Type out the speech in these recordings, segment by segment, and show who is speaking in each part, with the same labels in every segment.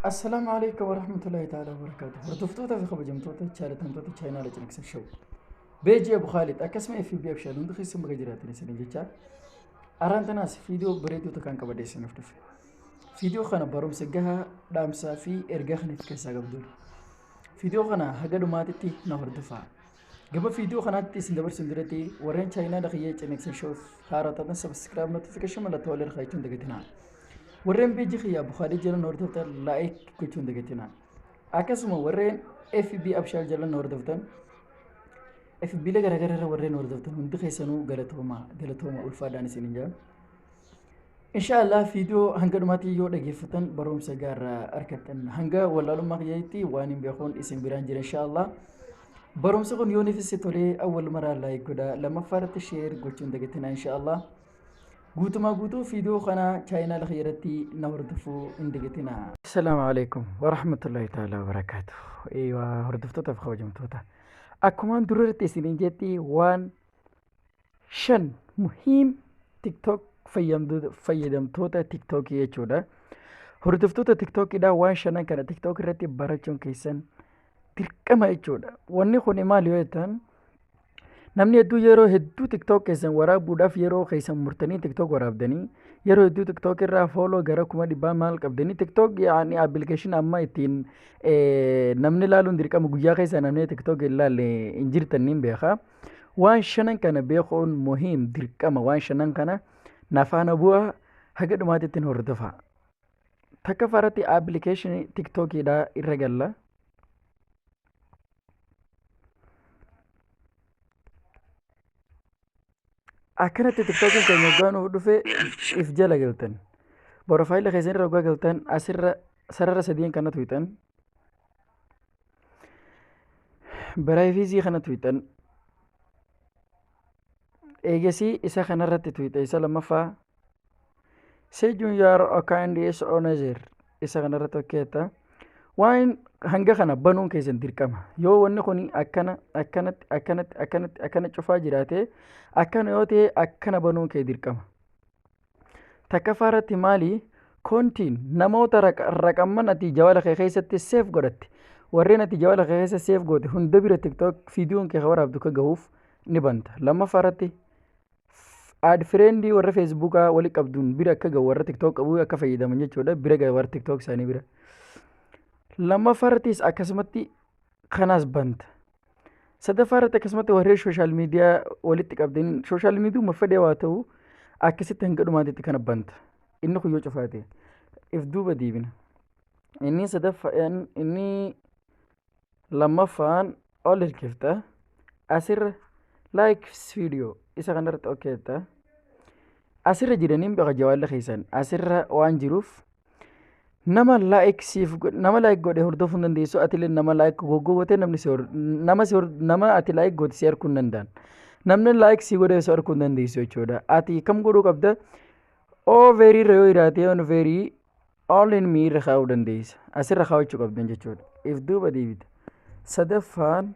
Speaker 1: Assalaamu alaikum warahmatullahi ta'ala wabarakaatu. Hordoftoota fi kabajamtoota chaalatamtoota chaayinaala ciniqsa show. Beejii Abu Khaalid akkasuma FB Abshaal hundi keessan baga jiraatan isin jechaa. Araan tanaas fiidiyoo bareedoota kan qabadee isiniif dhufe. Fiidiyoo kana barumsa gahaa dhaamsaa fi ergaa kan itti keessaa qabdudha. Fiidiyoo kana haga dhumaatitti na hordofaa. Gama viidiyoo kanaatti isin dabarsuun duratti warreen chaayinaa lakiyyee ciniqsin shows haaraa taatan sabiskiraab notifikashin mallattoo wal irraa jechuun dagatinaa. Warreen beejii kiyyaa bukaalee jalan hordoftan laayik gochuun dagatinaa. Akkasuma warreen FB abshaal jalan hordoftan FB la garaagaraa irra warreen hordoftan hundi keessanuu galatooma galatooma ulfaadhaan isin hin jedhan. Inshaallah viidiyoo hanga dhumaatti yoo dhageeffatan barumsa gaarraa argattan hanga wallaalummaa kiyyatti waan hin beekuun isin biraan jira inshaallah. Barumsi kun yoon ifisse tolee awwal maraa laayik godha lammaffaa irratti sheer gochuun dagatina inshaallah. Guutumaa guutuu viidiyoo kana chaayinaala kiyya irratti na hordofuu hin dagatina. Assalaamu alaikum warahmatullahi ta'ala wabarakaatu. Eeywaa hordoftoota fi kabajamtoota. Akkumaan dura irratti isiniin jetti waan shan muhiim tiktok fayyamdu- fayyadamtoota tiktokii jechuudha hordoftoota tiktokiidha waan shanan kana tiktok irratti barachuun keessan dirqama jechuudha wanni kun maal yoo jettan namni hedduu yeroo hedduu tiktok keessan waraabuudhaaf yeroo keessan murtanii tiktok waraabdanii yeroo hedduu tiktok irraa fooloo gara kuma dhibbaa maal qabdanii tiktok yaani appilikeeshin amma ittiin eh, namni ilaaluun dirqama guyyaa keessa namni tiktok hin ilaalle hin jirtan niin beekaa waan shanan kana beekuun muhiim dirqama waan shanan kana nafaana bu'aa haga dhumaatti ittiin hordofaa takka faratti appilikeeshinii tiktookiidhaa irra galla akkanatti tiktookiin keenya waggaa nuuf dhufe if jala galtan borofaayila keessan irra waggaa galtan asirra sarara sadiin kana tuyxan Biraayifiizii kana tuyxan. Eegasii isa kanarratti tuyxa isa lammaffaa. Seejuun yaar okaan dhiyees onazeer isa kanarratti hojjeta. Waan hanga kana banuun keessan dirqama. Yoo wanni kun akkana akkanatti akkanatti akkanatti akkana cufaa jiraate akkana yoo ta'e akkana banuun kee dirqama. Takkaffaa irratti maali? Kontiin namoota raqamman ati jawala kee keessatti seef godhatte warreen ati jawala kee keessa seef goote hunda bira tiktok viidiyoon kee waraabdu ka gahuuf ni banta. Lammaffaa irratti aad fireendii warra feesbuukaa wali qabduun bira akka gahu warra tiktok qabu akka fayyadaman jechuudha bira gahu warra tiktok isaanii bira. Lammaffaa irrattis akkasumatti kanas banta. Sadaffaa irratti akkasumatti warreen sooshaal miidiyaa walitti qabdeen sooshaal miidiyuma fedhee waa ta'u akkasitti hanga dhumaatitti kana banta. Inni kun yoo cufaate if duuba deebina. Inni sadaffaan inni lammaffaan ol hirkifta asirra likes video isa kanarratti ok jetta. Asirra jiraniin baqa jawaalli keessan asirra waan jiruuf nama like siif go- nama like godhe hordofuu hin dandeessu atilee nama like goggowwate namni si hor- nama si hor- nama ati like goote si arguu hin danda'an namni like si godhe si arguu hin dandeessu jechuudha ati kam godhuu qabda oo veerii irra yoo jiraate yoon veerii all in me irra kaa'uu dandeessa asirra kaa'achuu qabdan jechuudha if duuba deebita sadaffaan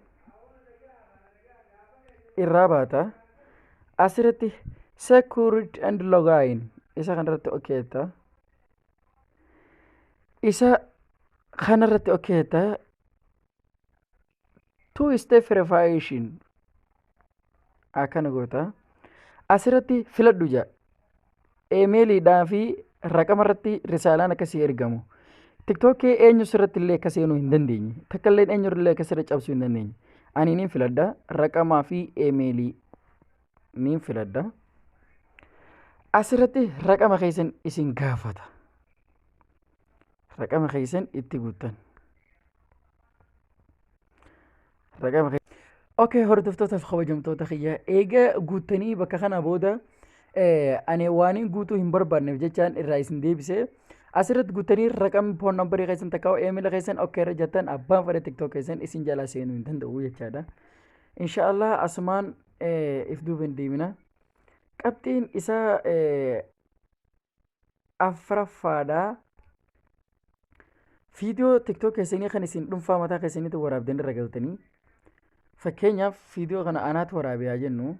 Speaker 1: irraa baata asirratti secured and login isa kanarratti okeetta okay, isa kana irratti okkeeta two step verification akkana goota asirratti filadhu jedha emeeliidhaa fi raqama irratti risaalaan akkasii ergamu tiktookii eenyu sirratti illee akka seenuu hin dandeenye takka illee eenyu illee akka sirra cabsuu hin dandeenye aniiniin filadha raqamaa fi emeelii niin filadha. Asirratti raqama keessan isin gaafata. Raqama keessan itti guuttan. Raqama keessan. Okay, hordoftoota kabajamtoota kiyya eega guuttanii bakka kana booda ani waanin guutuu hin barbaanneef jechaan irraa isin deebise. Asirratti guuttanii raqamni foon nambarii keessan takka eemila keessan ok irra jettan abbaan fedha tiktok keessan isin jalaa seenuu hin danda'u jechaadha. Inshaallah asumaan if duuba hin deemina. Qabxiin isaa afraffaadha. Fiidiyoo tiktook keessanii kan isin dhuunfaa mataa keessaniitti waraabdan irra galtanii fakkeenyaaf fiidiyoo kana anaatu waraabe haa jennu.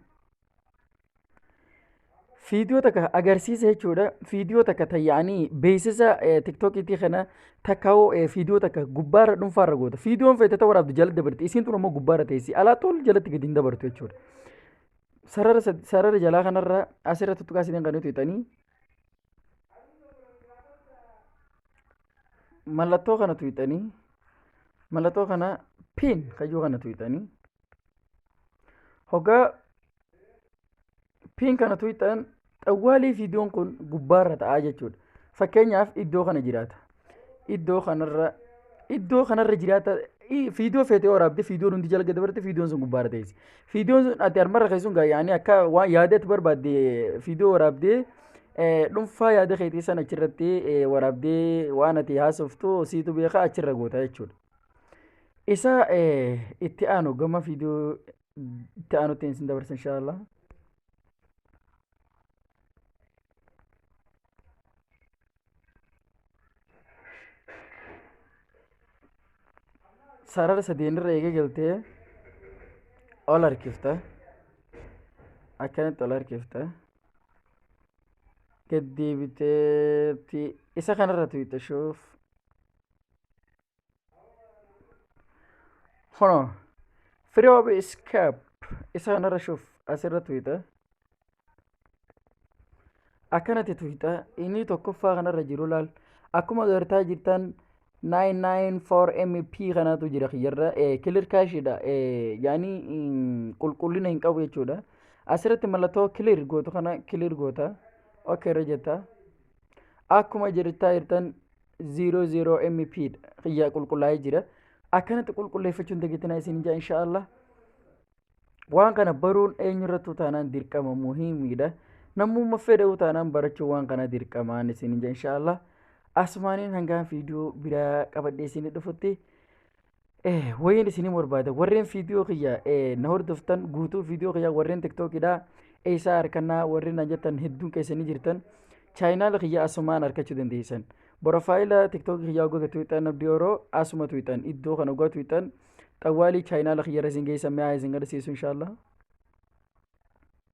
Speaker 1: Fiidiyoo takka agarsiisa jechuudha. Fiidiyoo takka tayya'anii beeksisa tiktokiitii kana takkaa'oo fiidiyoo takka gubbaarra dhuunfaarra goota. Fiidiyoon feete ta'uu waraabdu jala dabarti. Isiin tun ammoo gubbaarra teessi. Alaa tol jalatti gadi hin dabartu jechuudha. Sarara sad- sarara jalaa kanarra asirra tuttuqaa isin kan nuti hixanii mallattoo kana tuyxanii mallattoo kana pin kayyoo kana tuyxanii hoggaa piin kana tuqxan xawwaalii viidiyoon kun gubbaarra ta'a jechuudha. Fakkeenyaaf iddoo kana jiraata. Iddoo kanarra iddoo kanarra jiraata viidiyoo feetee waraabde viidiyoon hundi jala dabarte viidiyoon sun gubbaarra teessi. Viidiyoon sun ati harmarra keessuun gaayyaanii akka waan yaada itti barbaadde viidiyoo waraabdee dhuunfaa yaada keetii sana achirratti waraabdee waan ati haasoftu siitu beekaa achirra goota jechuudha. Isa itti aanu gama viidiyoo itti aanutti isin dabarsa insha Allah. sarara sadeen irra eega galtee ol harkifta akkanatti ol harkifta gad deebiteetti isa kanarra tuyxashuuf Hono. Free of escape. Isa kanarra shuuf asirra tuyita. Akkanatti tuyita. Inni tokkoffaa kanarra jiru laal. Akkuma agartaa jirtan 994 MP kanatu jira kiyyarra. Kilir kaashiidha. Yaani qulqullina hin qabu jechuudha. Asirratti mallattoo kilir gootu kana kilir goota. Ok irra jetta. Akkuma jirtaa jirtan 0 0 mp kiyya qulqullaa'ee jira akkanatti qulqulleeffachuun dagattinaa isin jaa insha Allah waan kana baruun eenyurrattuu taanaan dirqama muhiimiidha namumma fedha'uu taanaan barachuu waan kana dirqamaan isin jaa insha Allah asumaaniin hangaan fiidiyoo biraa qabadhee isin dhufutti Eh, wayiin isinii barbaada warreen viidiyoo kiyya eh, na hordoftan guutuu viidiyoo kiyya warreen tiktookidha eessaa harkannaa warreen naan jettan hedduun keessanii jirtan chaayinaala kiyya asumaan harkachuu dandeessan borofaayila tiktookii kiyya hoggaa tuwixan abdii oroo asuma tuwixan iddoo kana hoggaa tuwixan xawwaalii chaayinaala kiyya irra isin geessan mi'aa isin garsiisu inshaallah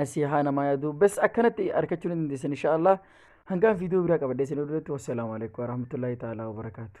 Speaker 1: nasihaa namaa yaadu bes akkanatti arkachuu ni dandeessan insha allah hangaan viidiyoo biraa qabadhee isin duratti wassalaamu alaikum warahmatullaahi ta'aalaa wabarakaatu